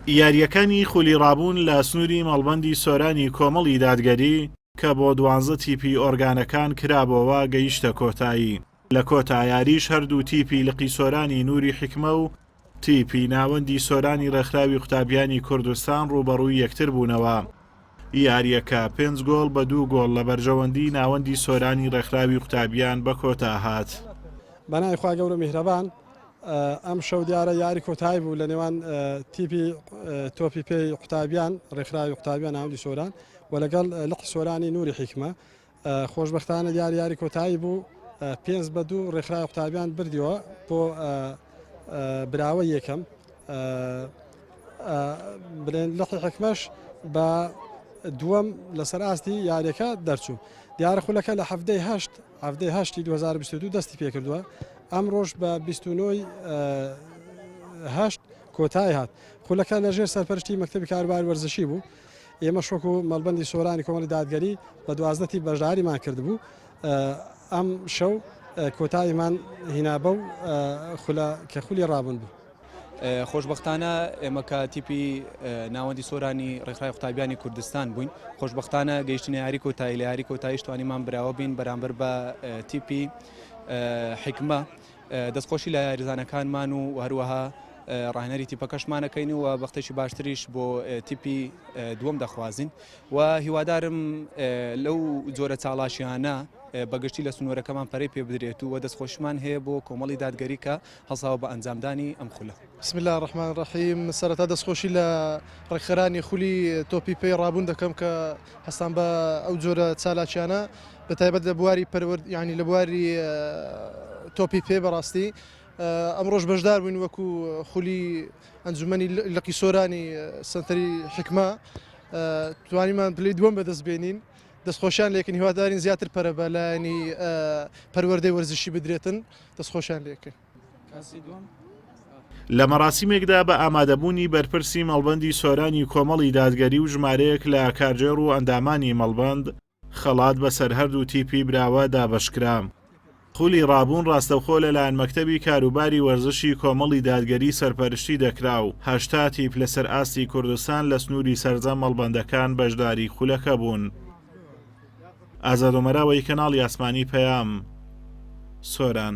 یارییەکانی خولی ڕابوون لە سنووری مەڵبەندی سۆرانی کۆمەڵی دادگەری کە بۆ دوانزە تیپی ئۆرگانەکان کرابۆوە گەیشتە کۆتایی لە کۆتا یاریش هەردوو تیپی لقی سۆرانی نووری حکمە و تیپی ناوەندی سۆرانی ڕێکخراوی قوتابیانی کوردستان ڕووبەڕووی یەکتر بوونەوە یاریەکە پێنج گۆڵ بە دوو گۆڵ لە بەرژەوەندی ناوەندی سۆرانی ڕێکخراوی قوتابیان بە کۆتا هات. بەناوی خوا گەورە و میهرەبان ئەمشەو دیارە یاری کۆتایی بوو لە نێوان تیپی تۆپی پێی قوتابیان ڕێکخراوی قوتابیان ناودی سۆران و لەگەڵ لقی سۆرانی نوری حیکمە خۆشببختانە دیار یاری کۆتایی بوو پێنج بە دوو ڕێکخراوی قوتابیان بردیەوە بۆ براوە یەکەم بلێن لقی حکمەش بە دووەم لەسەر ئاستی یاریەکە دەرچوو دیارە خولەکە لە هەفتەی هەشت حەڤدە ی هەشت ی دوو هەزار و بیست و دوو دەستی پێکردووە ئەمڕۆش بە بیست و نۆ ی هەشت کۆتای هات خولەکە لە ژێر سەرپەرشتی مەکتەبی کاروبار وەرزشی بوو ئێمە شۆک و مەڵبندی سۆرانی کۆمەڵی دادگەری بە دوازدە تی بەشداریمان کردبوو ئەم شەو کۆتاییمان هینا بەو خولە کە خولی ڕابوون بوو. خۆشبەختانە ئێمە کە تیپی ناوەندی سۆرانی ڕێکخرای قوتابیانی کوردستان بووین خۆشببختانە گەیشتنە یاری کۆتایی لە یاری کۆتاییش توانیمان براوە بین بەرامبەر بە تیپی حکمە دەستخۆشی لە یاریزانەکانمان و هەروەها ڕاهێنەری تیپەکەشمانەکەین و بەختێکی باشتریش بۆ تیپی دووەم دەخوازین و هیوادارم لەو جۆرە چاڵاشیانە بەگشتی لە سنوورەکەمان پەرەی پێ بدرێت و وە دەستخۆشمان هەیە بۆ کۆمەڵی دادگەریکە هەڵساوە بە ئەنجامدانی ئەم خولە. بسم اللە الرحمن الرحیم سەرەتا دەستخۆشی لە ڕێکخەرانی خولی تۆپی پێی ڕابوون دەکەم کە هەستان بە ئەو جۆرە چالاکیانە بە تایبەت لە بواری پەروەرد یعنی لە بواری تۆپی پێ بەڕاستی ئەمڕۆژ بەشدار بووین وەکو خولی ئەنجومەنی لقی سۆرانی سنتەری حکمە توانیمان پلی دووەم بەدەست بێنین دەستخۆشیان لێکن هیوادارین زیاتر پەرە بە لایەنی پەروەردەی وەرزشی بدرێتن دەستخۆشیان لێ کرد. لە مەراسیمێکدا بە ئامادەبوونی بەرپرسی مەڵبەندی سۆرانی کۆمەڵی دادگەری و ژمارەیەک لە کارگێڕ و ئەندامانی مەڵبەند خەڵات بەسەر هەردوو تیپی براوە دابەشکرا. خولی ڕابوون ڕاستەوخۆ لەلایەن مەکتەبی کاروباری وەرزشی کۆمەڵی دادگەری سەرپەرشتی دەکرا و هەشتا تیپ لەسەر ئاستی کوردستان لە سنووری سەرجەم مەڵبەندەکان بەشداری خولەکە بوون. ئازادومەراوە ی کەناڵی ئاسمانی پەیام سۆران.